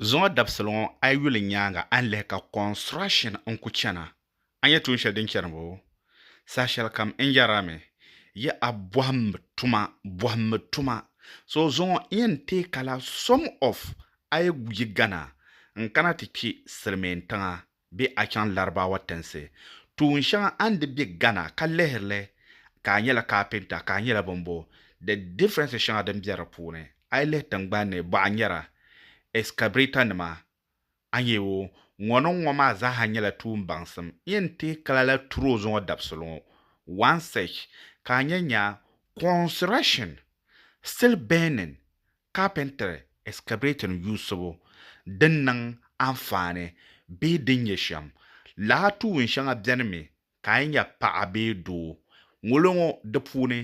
Zuŋɔ dabisili ŋɔ a yi yuli nyaaŋa a ni lihi ka construction n-ku chana, a ni nya tuun shɛli din chani bo? Saha shɛli kam n yɛra mi, Yi a bɔhimmi tuma, bɔhimmi tuma. So zuŋɔ n yɛn teei ka la some of a yi yi gana n-kana ti kpi Silimiintiŋa. bɛ a chaŋ Larabawa tinsi tuun shɛŋa a ni di bɛ Ghana ka lihiri li ka a nyɛla carpenter ka a nyɛla bini bo the differences shɛŋa din bɛ di puuni a yi lihi tingbani ni bɔɣa nyɛra excavator nima a nyɛ o ŋɔ ni ŋɔ maa zaa ha nyɛla tuun baŋsim n yɛn teei ka lala turo zuŋɔ dabisili ŋɔ one search ka a nyɛ nya construction still burning Carpentry excavating yuusibu din niŋ anfaani bee din nyɛ shɛm. Laa tuun shɛŋa beni mi ka a yi nya paɣa bee doo. Ŋolo ŋɔ di puuni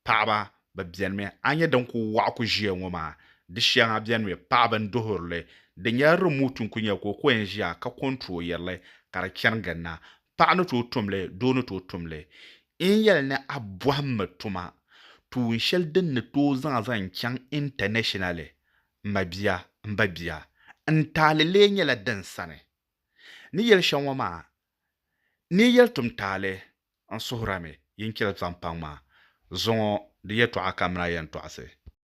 paɣaba bi beni mi. A nya din ku waɣa ku ʒiya ŋɔ maa, di shɛŋa beni mi paɣaba n duhiri li. Di nyɛla remote n ku nyɛli ka o ku yɛn ʒiya ka controyiri li ka di chani ginda. Paɣa ni tooi tum li, doo ni tooi tum li. N yɛli ni a bɔhimmi tuma tuun shɛli din ni tooi zaŋ a zaŋ chaŋ intanɛshinali. M ma bia, m ba bia, n taali lee nyɛla din sani. Ni yɛli shɛm ŋɔ maa, ni yi yɛli tum taali, n suhirami yi ni chɛli zaŋ paŋ maa. Zuŋɔ di yɛtɔɣa ka m ni a yɛn tɔɣisi.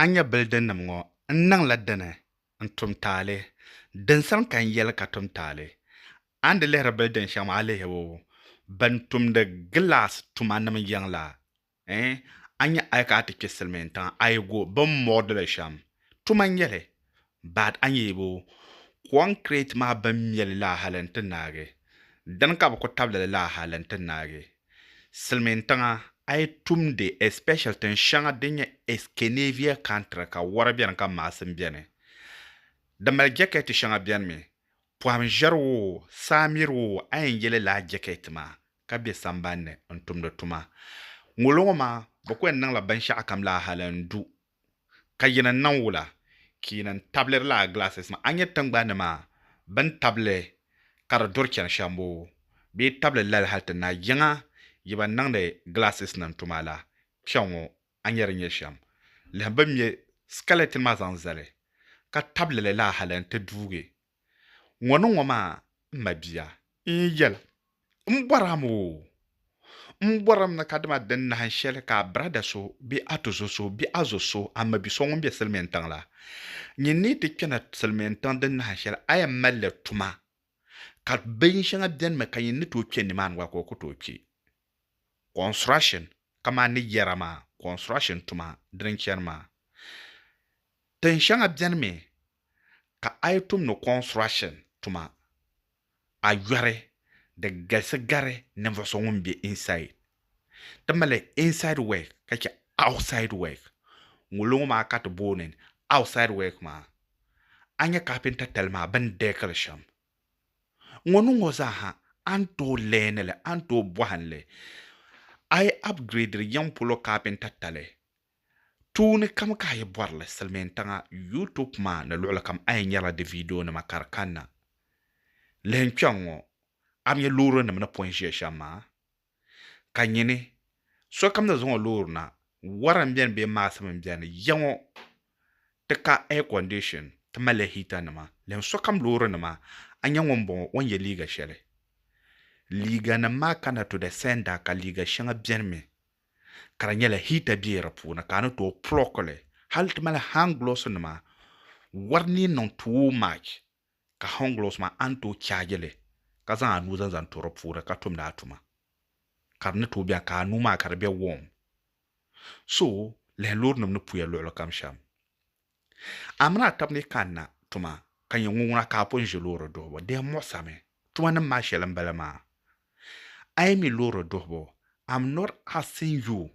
A nya bilidinnim ŋɔ n niŋla dini n-tum taali? Dinsani ka n yɛli ka tum taali. A ni di lihiri bilidin shɛŋa maa, a lihi o. Bɛn tumdi gilaas tumanim yiŋ la, ɛɛn, a nya a yi ka a ti kpe silimiintiŋa, a yi go bɛ ni muɣi di li shɛm. Tuma n-nyɛ li. Baat a nyɛ bo? Kɔŋkirɛt maa bɛn mɛ li la hali n-ti naagi? Dini ka bɛ ku tabili li la hali n-ti naagi? Silimiin tiŋa, a yi tumdi, especially tin shɛŋa din nyɛ Eskenavia country ka wɔri beni ka maasim beni. Di mali jɛkɛti shɛŋa beni mi. Pɔhim ʒiɛri woo, saa miri woo a yɛn ye li laa jɛkɛti maa ka be samban ni n-tumdi tuma. Ŋolo ŋɔ maa, bɛ ku yɛn niŋla binshɛɣukam la hali n-du Ka yina n-niŋ wula? Ka yina n-tabili lala glasses maa. A nya tiŋgbani ni maa bɛ ni tabili ka di duri chani shɛm boo? Bɛ yi tabili lali hali ti naai yiŋa yi ba niŋdi glasses nim tuma la. Kpɛŋ ŋɔ a nya di nyɛ shɛm? Lihim bɛ ni me skeleton maa zaŋ zali ka tabili li laa hali n-ti duugi Ŋɔ ni ŋɔ maa, m mabia, n yi yɛli, M bɔram o! M bɔrim ni kadama di nahin shɛli ka a birada so bee a tuzo so bee a zo so, a mabi so ŋun be silimiintiŋ la, nyin ni yi ti kpɛna silimiintiŋ di nahin shɛli a yɛn mali li tuma, ka bin shɛŋa benimi ka nyin ni tooi kpɛ nimaani gba ka o ku tooi kpɛ. Construction, kamani ni yɛra maa, construction tuma dini chani maa. Tin shɛŋa benimi ka a yi tumdi construction tuma a yɔri di galisi gari ninvuɣu so ŋun be inside. Ti mali inside work ka che outside work. Ŋunlo ŋɔ maa ka ti booni outside work maa. A nya carpenter tali maa bɛ ni deekili shɛm ŋɔ ni ŋɔ zaa ha a ni tooi learn li a ni tooi bɔhim li. A yi upgradiri yiŋ polo carpenter tali Tuuni kam ka a yi bɔri li silimiintiŋa YouTube maa ni luɣili kam a yi nyarila di viidionima ka di kanna. Lihi n kpe ŋ-ŋɔ, a bi nya loorinim ni pɔi ʒiya shɛm maa? Ka nyini, sokam ni zaŋ o loori na, wara m-beni bee maɣisim m-beni, ya ŋɔ ti ka air condition, ti malila hiitanima, lihim sokam loorinima, a nya ŋun bɔŋɔ o ni ye liiga shɛli. Liiganim maa kanna to the sender ka liiga shɛŋa beni mi ka di nyɛla hita be di puuni ka a ni tooi plɔki li hali ti mali hand gloves nima wari ni niŋ too much ka hand gloves maa a ni tooi charge li ka zaŋ a nuu zaŋ zaŋ to di puuni ka tumdi a tuma ka di ni tooi bɛni ka a nuu maa ka di be warm so lahi loori nim ni puya luɣuli kam shɛm Amina ka bɛ ni kanna tuma ka nyɛ ŋuŋuna ka a pun ʒi loori duhibu? Di yɛn muɣisami. Tumanim maa shɛli m-bala maa. A yi mi loori duhibu, I'm not asking you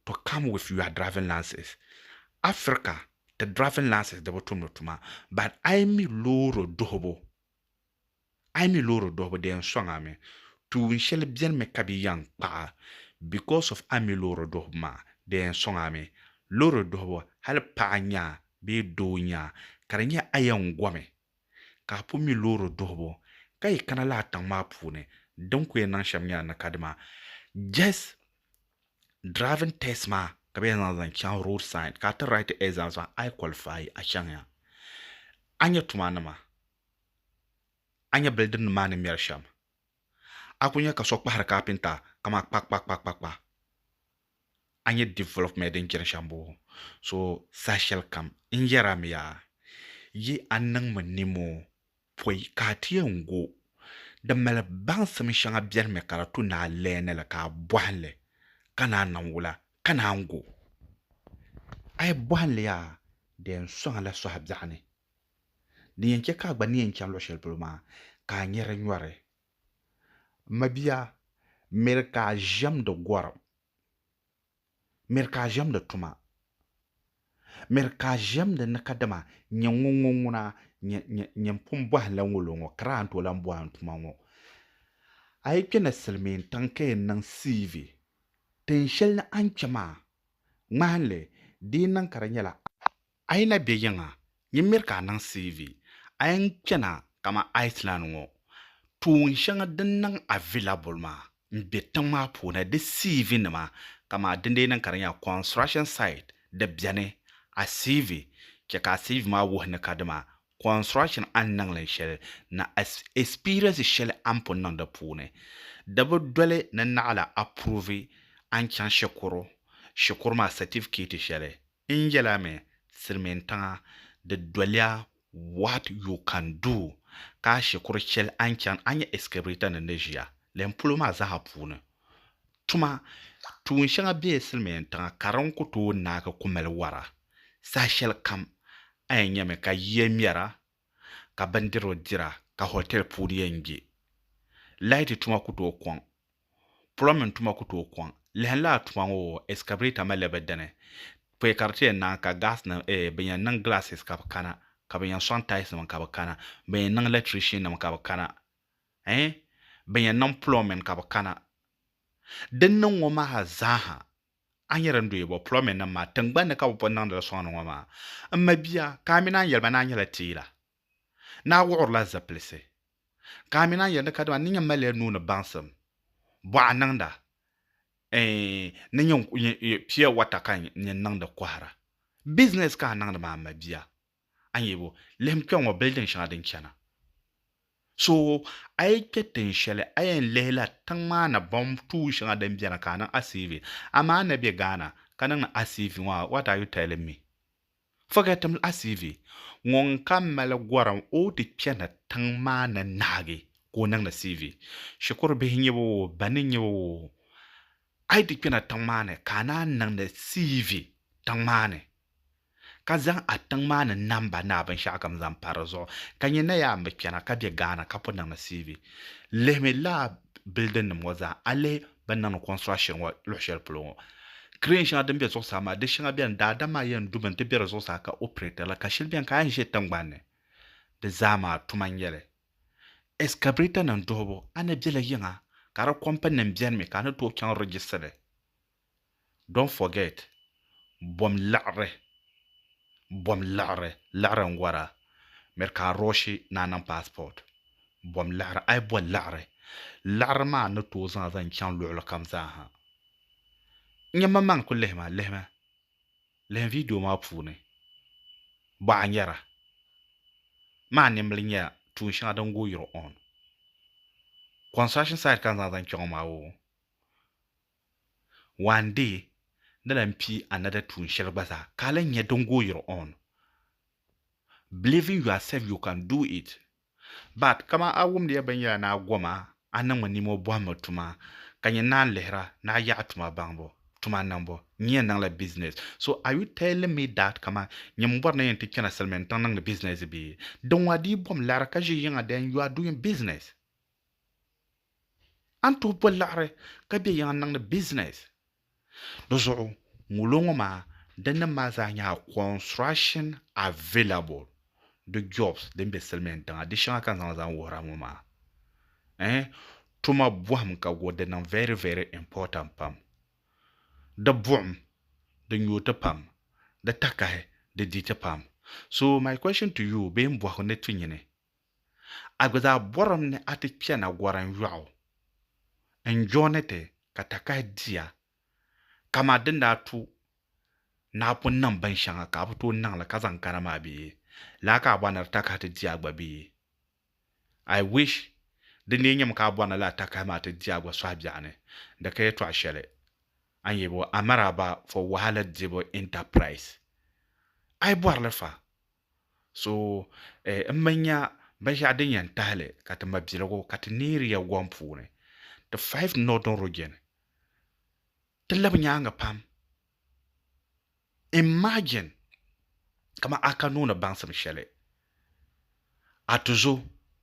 to come with your driving license. Africa, ti driving license di bi tumdi tuma. But a yi mi loori duhibu, A yi mi loori duhibu di yɛn sɔŋ a mi tuun shɛli beni mi ka bɛ yɛn kpa a because of a mi loori duhibu maa di yɛn sɔŋ a mi loori duhibu hali paɣa nya a bee doo nya a ka di nyɛ a yɛn gomi ka a pun mi loori duhibu ka yi kana lala tiŋ maa puuni din ku yɛn niŋ shɛm nyɛla ni ka dima just driving test maa ka bɛ yɛn zaŋ zaŋ chaŋ road side ka a ti write exams maa a yi qualify a chaŋ ya a nya tuma nima a nya bilidiri nim maa ni mɛri shɛm. A ku nya ka so kpahiri kapinta kaman kpakpakpakpakpa. A nya development din chani shɛm boo. So saha shɛli kam n yɛri a mi yaa, yi a niŋmi nimoo pɔi ka a ti yɛn gu din mali baŋsim shɛŋa beni mi ka di tu ni a leeni li ka a bɔhim li ka naan niŋ wula ka naan gu. A yi bɔhim li yaa di yɛn sɔŋ a la sɔhi biɛɣu ni. Din yɛn chɛ ka a gba ni yɛn chani luɣ shɛli polo maa, ka a nyɛ di nyɔri. M mabia, miri ka a ʒiɛmdi gɔrim. Miri ka a ʒiɛmdi tuma. Miri ka a ʒiɛmdi ni kadama nyɛ ŋun ŋɔ ŋuna, nyɛ m pun bɔhi la ŋɔ lo ŋɔ, ka daa ni tooi lan bɔhi n tuma ŋɔ. A yi kpe na silimiintiŋ ka yɛn niŋ CV, tin shɛli ni a ni chɛ maa, ŋmahin li, di yi niŋ ka di nyɛla a. A yi na be yiŋa, nyin miri ka a niŋ CV. A yɛn kpɛna kamani Iceland ŋɔ, tuun shɛŋa din niŋ a vi labol maa m-be tiŋ maa puuni. Di CV nima kamani dindeenin ka di nyɛla construction site di beni. A CV, chɛ ka a CV maa wuhi ni ka dima construction a ni niŋ li shɛli ni experience shɛli a ni pun niŋ di puuni. Di bi doli ni naɣila approve a ni chaŋ shikuru shikuru maa certificate shɛli N yɛla mi, silimiintiŋa, di doliya what you can do ka a shikuru cheli a ni chani a nya excavator ni ni ʒiya lɛm polo maa zaa puuni tuma tuun shɛŋa be silimiintiŋa ka di ni ku tooi naagi ku mali wara saha shɛlikam a yɛn nyami ka yiya mɛra ka bindirigu dira ka hotel puuni yɛn gbi. Laati tuma ku tooi kɔŋ. Plumbing tuma ku tooi kɔŋ. Lahin laa tuma ŋɔ excavator malila bɛ dini. Pɔi ka di ti yɛn naai ka gas nim eeh ban yɛn niŋ glasses ka bɛ kana, ka ban yɛn sɔŋ tiles nim ka bɛ kana, ban yɛn niŋ electrician nim ka bɛ kana eeh ban yɛn niŋ plumbing ka bɛ kana. Din niŋ ŋɔ maa zaa ha A ni nyɛ din dɔyi bɔ pulɔmɛn nim maa tingbani ni ka bi pun niŋdili sɔŋ ni ŋɔ maa? M ma bia, ka a mi naan yɛli ba ni a nyɛla teela? Ni a wuɣirila zipilisi? Ka a mi naan yɛli ni kadama n ni nyɛ malila nuu ni baŋsim, bɔɣa niŋda, ɛɛn ni nyɛ pia wata ka n nyɛ n niŋdi kɔhira? Bizinɛs ka a niŋdi maa m ma bia? a ni yɛli o, lihim kpe ŋɔ bili din shɛŋa din chana. So a yi kpe tin shɛli a yɛn lihila tiŋ maa ni bom tuun shɛŋa din beni ka a niŋ a CV. Amaa n ni be Ghana ka niŋdi a CV ŋɔ ha what are you telling me? Forget him a CV. Ŋun ka mali gorim o ti chani tiŋ maa ni naagi ka o niŋdi CV. Shikuru bihi nyɛ ba oo, ba ni nyɛ ba oo, a yi ti kpena tiŋ maa ni ka a naan niŋdi CV tiŋ maa ni. ka zaŋ a tiŋ maa ni namba ni a binshɛɣu kam zaŋ pa di zuɣu ka nyɛ na yaa n bi kpɛna ka bɛ Ghana ka pun niŋdi CV lihimi lala building nim ŋɔ zaa a lihi bini niŋdi construction ŋɔ luɣi shɛli polo ŋɔ crane shɛŋa din bɛ zuɣusaa maa di shɛŋa bɛni daadam maa yɛn dumi n ti bɛ di zuɣusaa ka operate li ka shɛli bɛni ka a yɛn ʒɛ tingbanni di zaa maa tuma n nyɛli excavator nim duhibu a ni bɛla yiŋa ka di company nim bɛni mi ka a ni tooi chaŋ register li Don't forget bom laɣiri Bom laɣiri Laɣiri n wara Miri ka a rɔɔshi ni a niŋ passport Bom laɣiri A yi bo laɣiri Laɣiri maa ni tooi zaŋ a zaŋ chaŋ luɣili kam zaa ha N nya mmaŋmaŋ n ku lihi ma Lihimi Lihimi video maa puuni Bɔ a nyara Maa nimbili nya tuun shɛŋa din go yuri on Construction site ka n zaŋ zaŋ chaŋ o maa oo One day, di lan kpi another tuun shɛli gba zaa ka a lan nya din go your own. Believe in yourself you can do it. But kaman a wumdiya binyɛra ni a goma, a niŋmi nimo bɔhimmi tuma, ka nyɛ naan lihira ni a yaɣi tuma baŋbu, tuma niŋbu, n yɛn niŋla business. So are you telling me that kaman nyɛ m bɔri ni n yɛn ti kpɛna Silimiintiŋ niŋdi business bee? Dinwa di yi bom liɣiri ka ʒi yiŋa then you are doing business. A ni tooi boli laɣiri ka be yiŋa niŋdi business. Di zuɣu ŋulo ŋɔ maa din nim maa zaa nyɛla construction available di jobs din be silimiin tiŋa di shɛŋa ka n zaŋ zaŋ wuhira ŋɔ maa eh tuma bɔhim ka go di niŋ very very important pam di buɣim di nyooti pam di takahi di diti pam so my question to you bee m bɔhigu ni ti nyini A gba zaa bɔrimi ni a ti chana gɔrim yɔɣu n-jooni ti ka takahi diya kaman din daa tu naa pun niŋ bin shɛŋa ka a bi tooi niŋ li ka zaŋ kana maa bee? Lala ka a bɔri ni di takahi ti diya gba bee? I wish di lee nyɛmi ka a bɔri ni lala takahi maa ti diya gba sɔhi biɛɣu ni di ka yɛltɔɣ shɛli a ni yɛli bo, Amaraba for wahala dibu enterprise. A yi bɔri li fa, So eh, m mi nya binshɛɣu din yɛn tahi li ka ti mabiligu ka ti neeri ya gɔŋ puuni ti five Northern Region. Ti labi nyaaŋa pam. Imagine kaman a ka nooni baŋsim shɛli a tuzo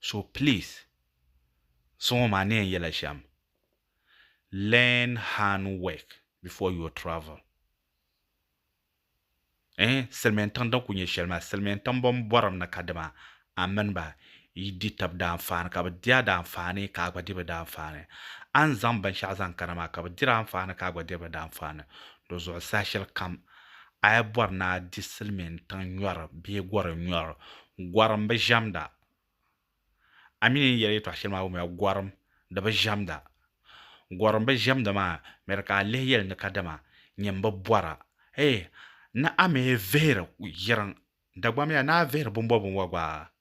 so please suŋɔ maa ni yɛn yɛla shɛm learn hand work before your travel eh silimiin tiŋ din kuli nyɛ shɛli maa silimiin tiŋ bɛn bɔrim ni kadama a mini ba yi di tab daanfaani ka bɛ di a daanfaani ka a gba di bɛ daanfaani a ni zaŋ binshɛɣu zaŋ kana maa ka bɛ diri a anfaani ka a gba diri bɛ daanfaani di zuɣu saha shɛli kam A yi bɔri ni a di silimiin tiŋ nyɔri bee gɔri nyɔri, gɔrim bi ʒiɛmda. A mi ni yi yɛli yɛtɔɣ shɛli maa wumiya, gɔrim di bi ʒiɛmda. Gɔrim bi ʒiɛmda maa miri ka a lihi yɛli ni kadama nyin bi bɔra. Hee! Ni a mi vihiri yiriŋ, dagbamya ni a vihiri bumbɔbinwa gba?